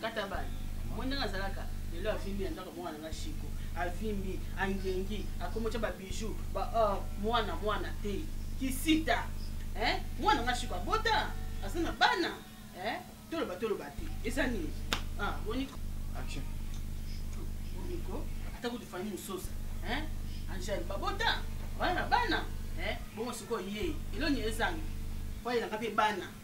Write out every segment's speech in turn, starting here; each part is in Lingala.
kata bana moi ndenge azalaka lelo avimbi na ndako mwana na shiko avimbi angengi akomotya babiju ba or oh, mwana mwana te kisita mwana na shiko abota aza na bana toloba toloba te eza nini ah, boniko boniko ata kutu fami mososa angele babota bana na bana bongo sikoyo ye eloni ezangi po ayelaka mpe bana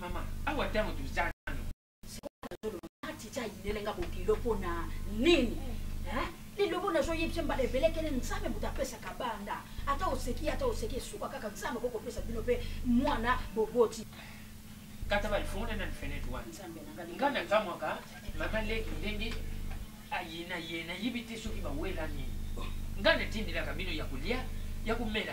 Mama, awa tango toza nano. Sikoyo nazoloba na titi ayinele nga bokilo mpo na nini? lilobo nazo yebisa mbala ebele kele nzambe moto apesaka banda ata oseki ata oseki esuka kaka nzambe okoki kopesa bino mpe mwana boboti kata balifungula nani fenete wana nga nakamwaka mama leki ndenge ayina ye nayebi te soki bawela nini nga natindelaka bino ya kolia ya komela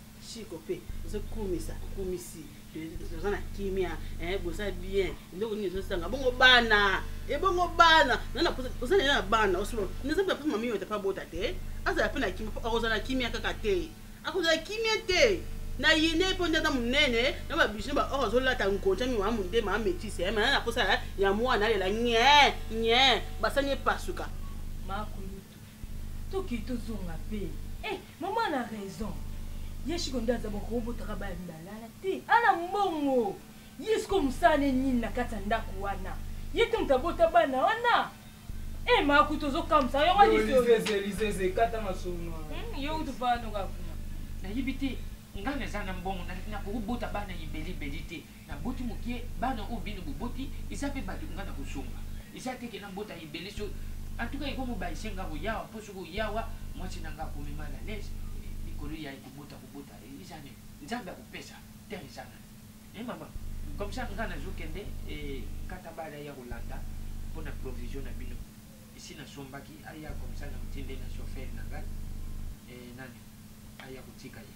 chico mpe ezokumisa kumisi toza na kimia eh, boza bien eloko nini ezosanga bongo bana ebongo eh, bana oza na na bana naza mpe mama miyote mpe abota te azala mpe na kimia akozala na kimia kaka te akozala kimia te na yine mpo nde aza monene na babijine ba or azolata nkonja miwa monde maa metise eh, mana na mposa ya mwana alela nye nye basani epasuka toke tozonga mpe eh, mama na raison ye shiko nde aza boko obotaka baya mibalala te ana mbongo ye siko mosala ne nini na kati ya ndako wana ye te moto abota bana wana e eh, maku tozokamwisa yango lisolizelizeze kata masolo hmm, yo kutu panoka kuna nayebi te ngai naza na mbongo nakoki bota bana ibelibeli te Na boti mokie bana oyo bino boboti eza pe batu nga na kozonga eza te ke na bota ebele so en tout cas eko mo baise nga ko yawa po soki oye awa mwasi na nga akomi mal à l'aise likolo ya ko bota ko bota eza nini nzambe ako pesa temps eza na eh maman comme ça nga nazo kende eh kata bala ya kolanda pona provision na bino esi na sombaki aya comme ça na motinde na chauffeur na nga eh nani aya kotika ye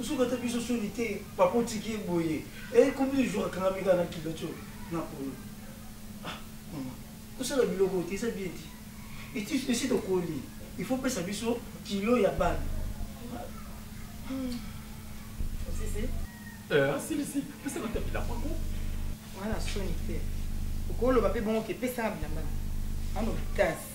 Osuki ata biso soni te papa otiki ye boye eh combien de jours akangami kaka na culotte oyo na polo ah maman kosala biloko oyo te eza bien te eti esi tokoli il faut pesa biso kilo ya bana osisi eh asilisi pesa kata bilamba ngo wana soni te okoloba mpe bongo ke pesa nga bilamba ano kasi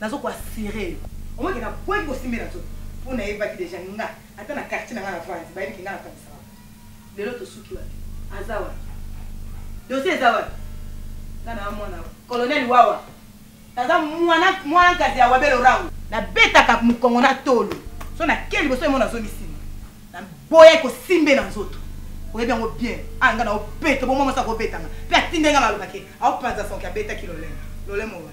Nazo ko assurer yo. Omoni ke na boyi ko simbela nzoto po na yebaki dejà nga ata na quartier na nga na vandi bayebi ke nga na kangisaka ba lelo to suki wapi? Aza wapi? Dossier eza wapi? Nga naza mwana Colonel Wawa. Naza mwana mwana nkazi ya Wabel Orango. Na betaka mukongo na tolo. Soki na ke liboso emo nazo mi simba. Na boya ko simbela nzoto. Oyebi yango bien. Ah nga na opeta bo mwa mwasi ako betanga. Pe atindeli nga maloba ke aopanza son ke abetaki lolemo. Lolemo wa.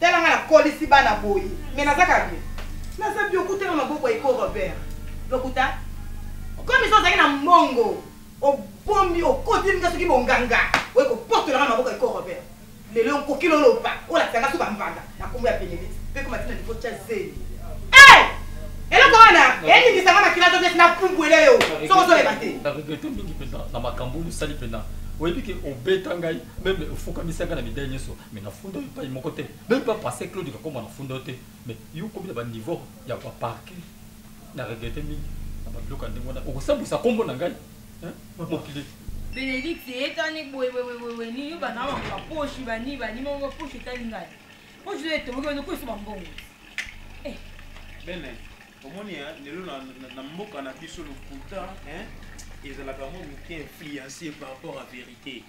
Tala nga na kolisi bana boye mais naza kaka bien. Naza bien okuta na maboko ya Eko Robert. Lokuta. Okomi so ozali na mbongo. Obombi okoti nga soki bonganga. Oye kopotola nga na maboko ya Eko Robert. Lelo nkoki loloba olakisa nga so ba mbanda na kombo ya Benedict. Pe koma tina niveau tya zeli. Eh! Eloko wana elingisa nga makila to neti na pumbwele yo. Soko ozoleba te. Na regrette mingi pena na makambo oyo osali pena. Oyebi ke obeta ngai meme ofukamisa nga na medaille nyoso. mais na funda yo epai moko te meme pas passé claude kakoma na funda yo te mais yo okomi na baniveau ya baparke na regrete mingi na babiloko ya ndenge wana okosambwisa nkombo na ngai mokili benedikte etani boyeboyeboye nini yo bana bango baposhi bani bani moko baposhi etali ngai poshi oyo etomoki bazo koyisa bambongo eh. bene omoni lelo na mboka na biso lokuta ezalaka mwa moke influencé par rapport à vérité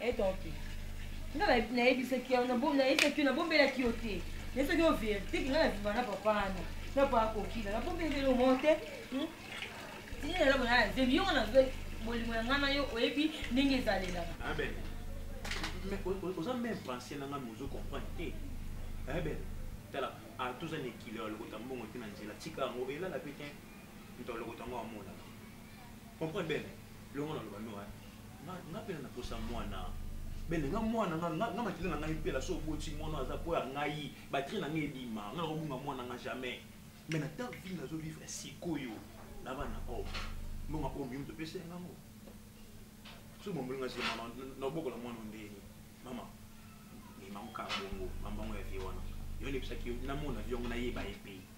Eh, tonki nga nayebisaki yo nayebisaki yo nabombelaki yo te nayebisaki yo verité ke nga na viva na papa wana na papa akokila nabombelaki yo mo te hmm? tini lelo bona na zemi yongo na bolingo ya nga na yo oyebi ndenge ezalelaka oza meme pensé nanga mais ozo comprendre te ebele tala atoza na ekilo ya lokota mbongo te na nzela tika yango elala pe te moto ya lokota yango amonaka comprendre bene longo na loba noa nga pena na posa mwana bene nga mwana nga nga makila na ngai mpela so oboti mwana aza mpo ya ngai batri na ngai ebima nga nakobunga mwana nga jamais me na ta vie nazo vivre sikoyo na bana oyo mbonga oyo mimi topesa ya ngango so bomboli nga sima nabokola mwana ndeni mama mimango kaka bongo mambango ya vie wana yo nayebisaki yo namona vie yango nayeba ye mpe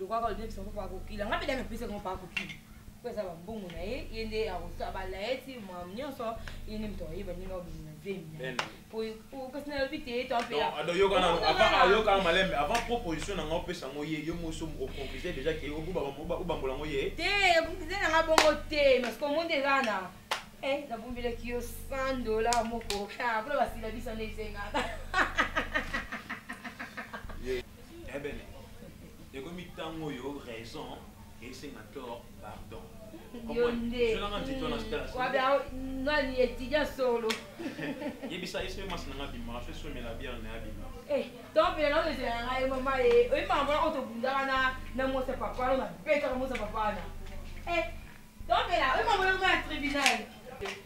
lokola olobisa ngo bakokila ngai mpe dame epesa ngo bakokila mpo eza bambongo na ye ye nde akosala balayeti ma nyonso ye nde moto ayeba ndenge obimi na zemi kasi nalobi te toayokaa malembe avant proposition na ngai opesa ngo ye yo moso oconcluse déjà ke obambola ngo ye te concluse na ngai bongo te parce que omonde eza na eh, nabombelaki yo 100 dollar moko mpona ah, basila biso nde esengaka ebele ekomi ntango oyo raison esenga tort pardon nani etidya solo yebisa ye soki masi nanga bima soki somela biere na abima tompela na ozela nanga ye mama ye oyi mama mwana oyo tobundaka na na mwasi ya papa no nabetaka mwasi ya papa na tompela oyi mama mwana ya tribunal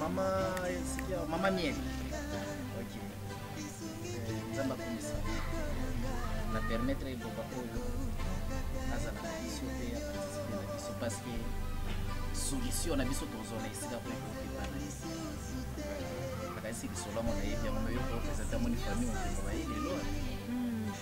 Mama esikia mama miel. OK. Eh, Nzamba kumisa. Na permettre ebonga oyo azala na biso mpe ya participe na biso parce que solution na biso tozwa na esika mpo ekokebana nakanisi lisolo yango nayebi yango nayo kopresente yango ni famille mobimba baye lelo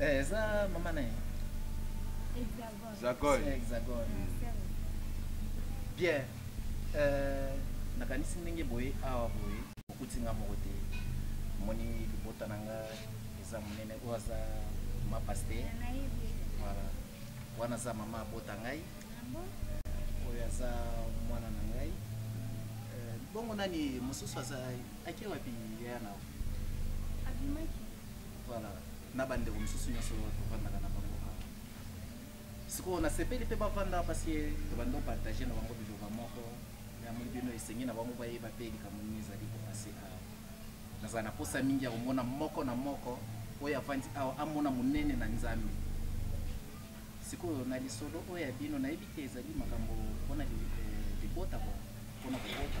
Eh, eza mama na ye hexagone hexagone bien euh, nakanisi ndenge boye awa boye okuti nga moko te omoni libota na nga eza monene oyo aza ma paster voilà wana aza mama abota ngai ah oyo aza mwana na ngai euh, bongo nani mosusu aza ake wapi yaya na abimaki Voilà. Na ba ndeko mususu nyoso tovandaka na bango awa. Sikoyo nasepeli pe bavanda parce que tobandi opartage na bango biloba moko yamoni bino esengi na bango bayeba pe likambo nini ezali kopase awa. Nazala na posa mingi ya komona moko na moko oyo avandi awa amona monene na Nzambe. Sikoyo na lisolo oyo ya bino nayebi te ezali makambo pona libota pona kobota.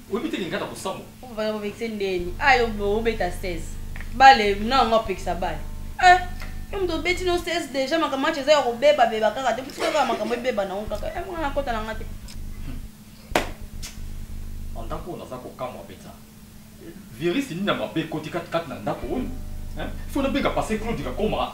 Oyebi te lingaka ko kosambo. Opo bana bobekise ndeni. Ah yo obeta 16. Bale na ngo apekisa bale. Eh yo moto obeti no 16 deja makambo match eza ya kobeba beba kaka te motika kaka makambo ebeba na ngo kaka. Eh mwana akota na nga te. En tant qu'on a ça comme kamwa beta. Virus ni na mabe koti kat kat na ndako oyo. Hein? Faut na benga passer Claude kakoma.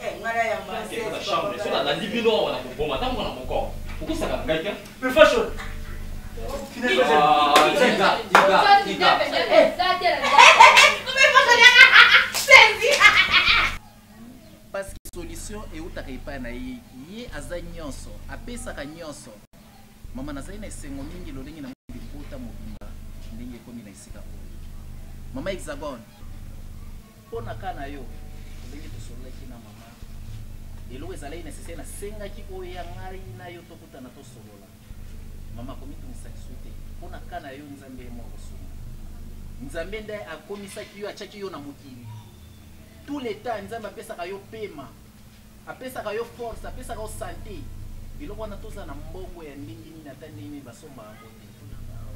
Eh, nga na ya ma. Kende na chambre, so na landi bino awa na koboma ata mwana moko. Okosaka ngai te. Pe fashion. Ah, tika, tika, tika. parce que solution eutaka epai na ye ye aza nyonso apesaka nyonso mama nazali na esengo mingi lolenge na moni libota mobimba ndenge ekomi na esika oyo mama hexagone Mpo na cas na yo, ndenge tosololaki na mama, eloko ezalaki necessaire, nasengaki oya ngai na yo tokutana tosolola. Mama komitungisa lisusu te. Mpo na cas na yo, Nzambe ye moko akosunga. Nzambe nde akomisaki yo, atiaki yo na mokili. Tout le temps Nzambe apesaka yo pema, apesaka yo force, apesaka yo sante. Biloko wana tozala na mbongo ya ndenge nini, ata ndenge nini basombaka yango te.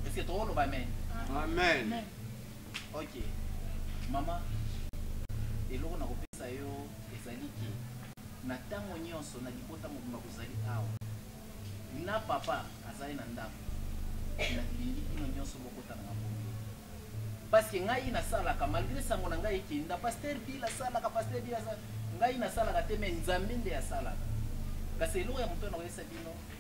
Est-ce que tokoloba amen? Amen. Ok. Mama, eloko na kopesa yo ezali ke na ntango nyonso na libota mobimba bozali awa na papa azali na ndako, nalingi bino nyonso bokota na mabomi paske ngai nasalaka malgre sango na ngai ekenda paster bila asalaka paster bila asalaka ngai nasalaka te me nzambe nde asalaka kasi eloko ya moto na koyesa bino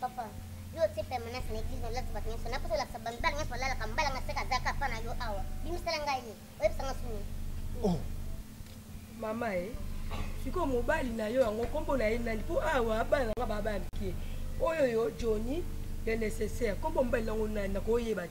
Papa, yo otie permanence na eglise na olati bato nyonso naposa olakisa bamibali nyonso balalaka mobali anga seka azaka apa na yo awa bimisala ngai ye oyebisa nga suni oh. mama e eh, sikoyo mobali na yo yango nkombo na ye nani mpo awa bana na nga baba ya mikie oyo yo johni le nécessaire nkombo mobali nango nani nakoyeba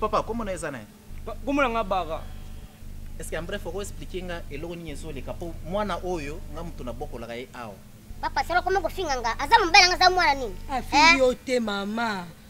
papa kombo na eza na ye kombo na nga bara estce en bref okoexplike nga eloko nini ezoleka mpo mwana oyo nga moto nabokolaka ye awa papa sala koma kofinga nga aza mobali nga aza mwana nini afingi eh? yo te mama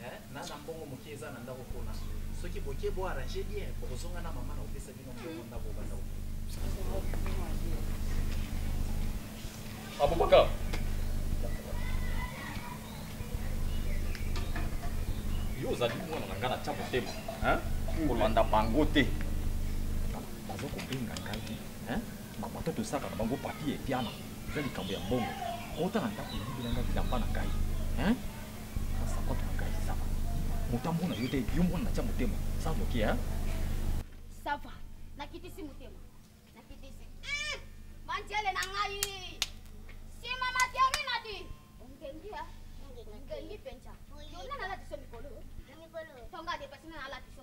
Eh, na na mbongo moke eza na ndako pona. Soki boke bo arranger bien, bokozonga na mama na opesa bino mbongo ndako ba ndako. Abubakar. Yo ozali mwana na ngai na tia motema. Hein? Kolanda bango te. Bazo kobenga ngai. Hein? Maman to tosaka na bango papier piana eza likambo ya mbongo kota na ndako oyibela nga bilamba na ngai hein sakote na ngai sava moto amona yo te yo mwana natya motema sava oke hein sava nakitisi motema nakitisi eh, manjele na ngai sima materi nadi ongengi ya ongengi mpenza yona nalatiso mikolo tonga depasina nalatiso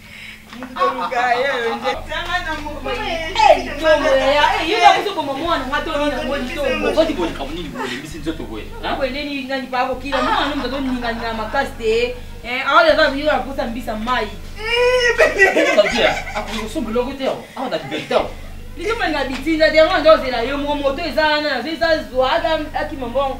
akosa mbisa mai likambo na bitinda derange ozela yo moko moto eza wana nazo eza zwa akima mbongo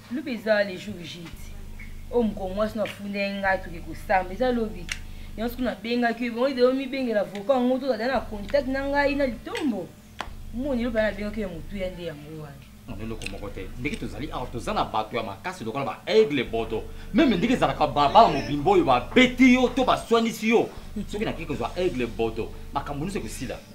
Lobi eza le jour jite oyo mokolo mwasi no afundaki ngai toke kosamba eza lobi yango soki nabengaki yo ebongo deyo mibengela voka yango tozala na contact na ngai na litombo moni lobi nabengaki ya motuya nde yango wana na eloko moko te ndenge tozali awa toza na bato ya makasi lokola ba aigle bodo meme ndenge ezalaka babala mobimba oyo babeti yo to baswanisi yo soki nakei kozwa aigle bodo makambo nyonso ekosila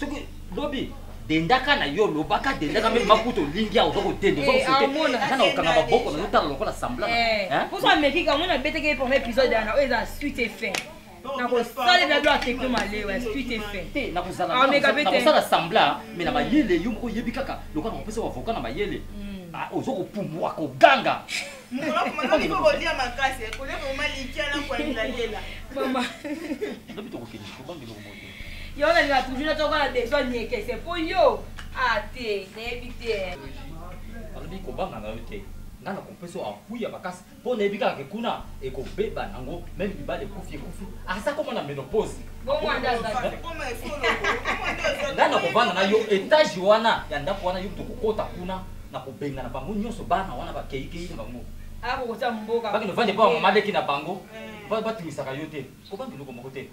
soki lobi dendaka na yo lobaka dendaka meme makuta olingi aoza kodenda oza kokanga baboko na otala lokola samblanposo amekika omona abeteke ye premier épisode yana oyo eza suite et fin nakosalela blo ateke malewa suite et fin te nakozalakosala sambla me na mayele yo moko oyebi kaka lokola nakopesa bavoka na mayele oza kopumbwa koganga Yo na linga toujours na toko na besoin nieke c'est pour yo. Ah te, nayebi te. Alobi kobanga na yo te. Nga na kompeso apui ya makasi mpo nayebi kaka ke kuna ekobeba nango meme libala ekufi ekufi aza koma na menopause nga na kobana na yo etage wana ya ndako wana yo tokokota kuna na kobengana bango nyonso bana wana bakeikei na bango bakende vande mpo bamama leki na bango eh. batumisaka yo te kobanga eloko moko te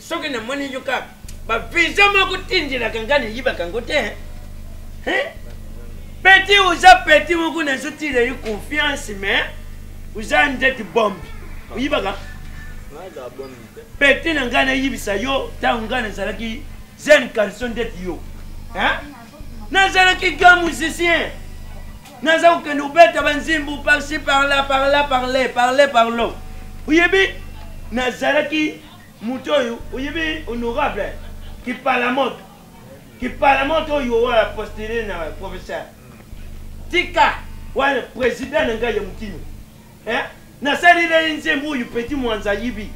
soki namoni yo kaka baviza moko tindelaka ngai nayibaka yango te peti oza peti moko nazotila yo confiance mais oza ndeti bombe oyibaka peti na ngai nayibisa yo ntango ngai nazalaki jeune carson ndeti yo nazalaki ga musicien naza kokende kobeta banzimbu parci parla parla parle parle parlo oyebi nazalaki Moto oyo oyebi honorable kipalamoto kipalamoto oyo oya postule na professeur tika wana president na ngai ya mokino eh? nasalela ye nzembo oyo peti mwanza ayibi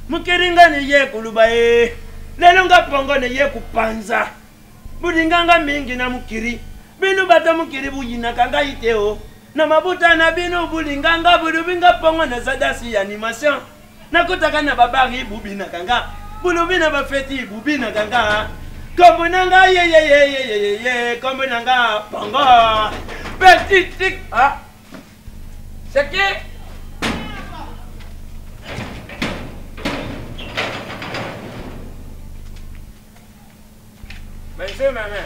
mokeli ngai neye koloba ye eh. lelo nga pongo neye kopanza bolinga nga mingi na mokili bino bata mokili boyinaka ngai te o oh. na mabota na bino bolinga nga bolobi nga pongo naza dasi ya animation nakotaka na babari bobinaka nga bolobi na bafeti bobinaka nga kombo na nga yeyeyeyeyeye kombo na nga bongo petit tik ah seke Monsieur, ma mère.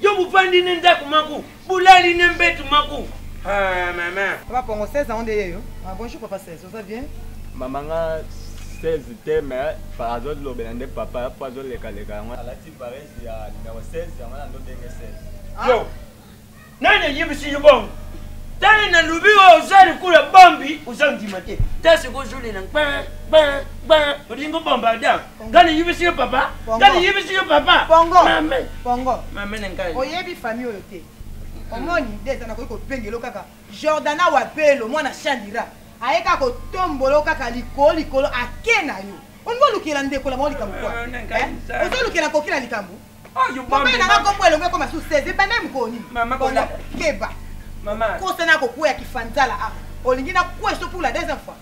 Yo buvandi ne ndako maku, bulali ne mbetu maku. Ah maman. Papa Pongo 16 ans onde yeyo. Ah bonjour papa 16, oza bien? Maman nga 16 te mais azo lobela nde papa po azo leka leka yango. Alati paresse ya numéro 16 yango na ndo denge 16. Yo. Nani ayebisi yo bongo? tali na lubi oyo oza likula bombi oza ndima te ta sikoyo ozolela gba gba gba olingi obomba adam nga nayebisi yo papa nga nayebisi yo papa pongo oyebi famille oyo te omoni nde eza nakoki kopengelo kaka jordana wapelo mwana shandira aye kaka kotombolo kaka likolo likolo ake na yo olingi olukela ndeko na bango likambo kwa eh, eh? ozolukela koki na likambo mobali nanga kombo elongo ekoma su 16 ebanda mokolo nini keba kosa na kokwea kifanzala a olingi na kwe so pour la deuxième fois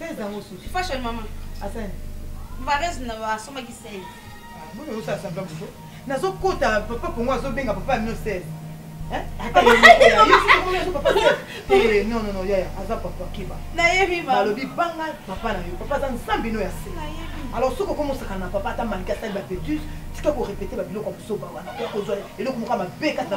16 ans osusu fashion mama asani varese na asomaki 16 ah, boni osa asambla buzo nazokota papa kongo azobenga papa ya 1916 non non non yaya aza papa keba nayebi balobi banga papa na yo papa aza nzambe no ya se alors soki okomi osaka na papa ata malika asali bapetus tika korepete babiloko ya mosoba wana okozwa eloko moko ya mabe kati na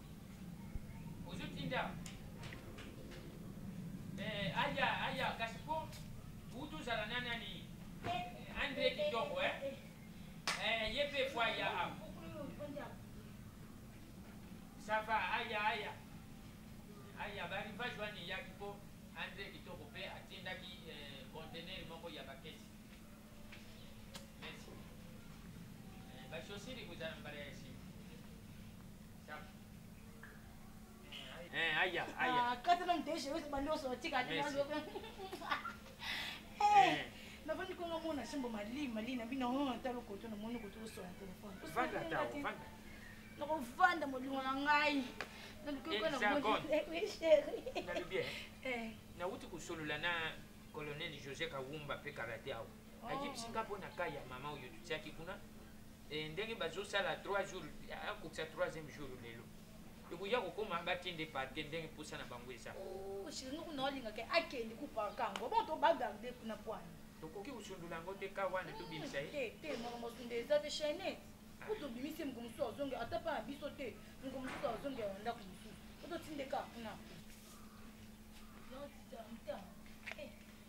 ozotinda eh, aya aya kasi mpo utu ozala na nani andre kitoko eh? eh, ye mpe fo aya awa sava aya aya aya barivage wana eyaki mpo andre kitoko mpe atindaki contener eh, moko ya bakesi merci eh, bashosiri kozala mbala ya Eh, aya, aya. Ah, kata na mteje wewe bando so tika ati bando. Eh. Na bandi ko ngamona simbo mali mali na bino ho ta loko to na moni ko to so na telefone. Vanda ta, vanda. Na ko vanda molingo na ngai. Na loko ko na moni. Eh, oui, chérie. Na bien. Eh. Na wuti kusolola na colonel José Kawumba pe karate awo. ayebisi nga mpo na ka ya mama oyo totiaki kuna eh, ndenge bazosala 3 jours akokisa 3e jour lelo ekoya kokoma bakende parke ndenge mposa na bango eza oh, tokoki kosundola yango te ka wana tobimisa ye eh, te moko mosunda eza te chaine po tobimisi ye moko mosusu azonge ata mpa na biso te moko mosusu azonge ya ndako mosusu ototindeka kuna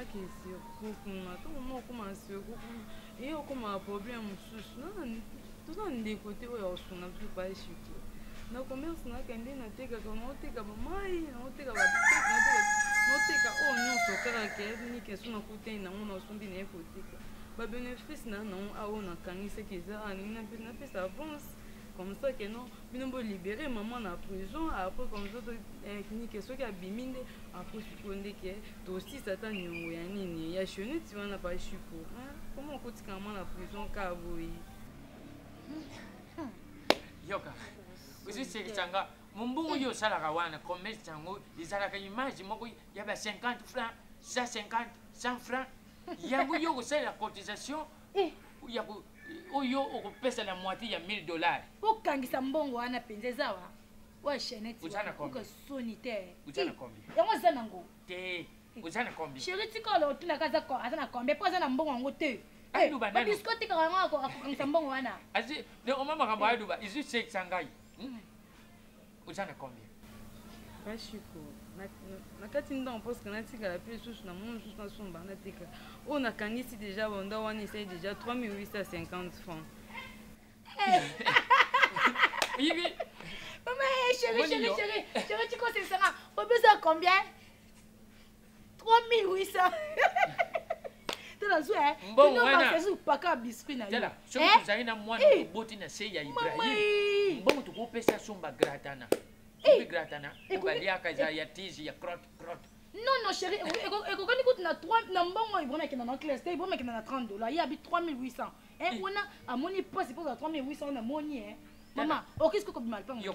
ake surtout kuna tokoma okoma surtout kuna eye okomaka problème mosusu toza ndeko te oyo akosunga biso baeshi te na commerce nakende natekaka naoteka bamai naoteka naoteka oyo nyonso kaka kelinike so nakutani nango nasombi na ye koteka babenefice na nango aoyo nakangisaki eza alingi napesa avance comme ça ke non bino bo libere maman na prison après comme ça nike soki abimi nde après sikoyo ndeke tosisa ata niongo ya nini ya cheneti wana pashuko koma okotikala mwa na prison ka boye yoka ozisekisa nga mombongo yo osalaka wana commerce yango ezalaka image moko ya ba 50 franc 150 100 franc yango yo okosalela cotisation eh. ya oyo okopesa na moitié ya 1000 dollars okangisa mbongo wana mpenza eza wa oyo chainete oka soni te yango eza nango te oza na kombi sheri tika olo otunaka aza na kombi mpo aza na mbongo yango te babisko tikaka yango akokangisa mbongo wana oma makambo aluba izu sekisa ngai oza na combien bashiko nakati ndongo parceke natikala mpe lisusu na mwa mosusu nasomba natika oyo nakangisi deja banda wana esali deja 3850 franc oyebi mama chéri chéri chéri chéri tikoselisanga obeza combien tolazwpaka biscuit nayo soki eh? tozali na mwana eh? oboti na se ya ibrahim mbongo tokopesa somba gratana eh? gratana obaliaka eza ya tizi ya crotte crotte non non chéri ekokani kutu na 3 na mbongo ibrahim akenda na classe te ibrahim akenda na 30 dollar ye abi 3800 e wana amoni mpasi mpo za 3800 wana amoni e mama okisi kokobima lipango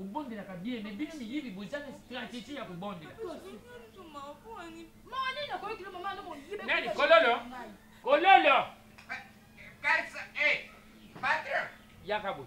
Obondelaka bien mais bino miyibi boza na strategie ya kobondela. Nani kololo? Kololo. Kasa eh patron. Yaka boy.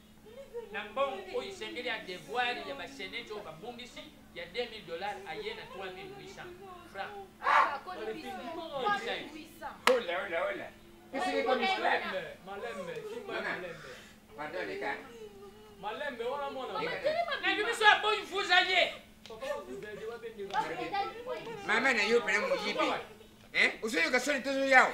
na mbongo oyo esengeli ya devoir ya basenete oyo babungisi ya 2000 dollars aye na 3800 franc malembe wana mwana nayebi biso ya boyi mfuza ye mama na yo mpena moyibi ozoyoka soni tozoyawa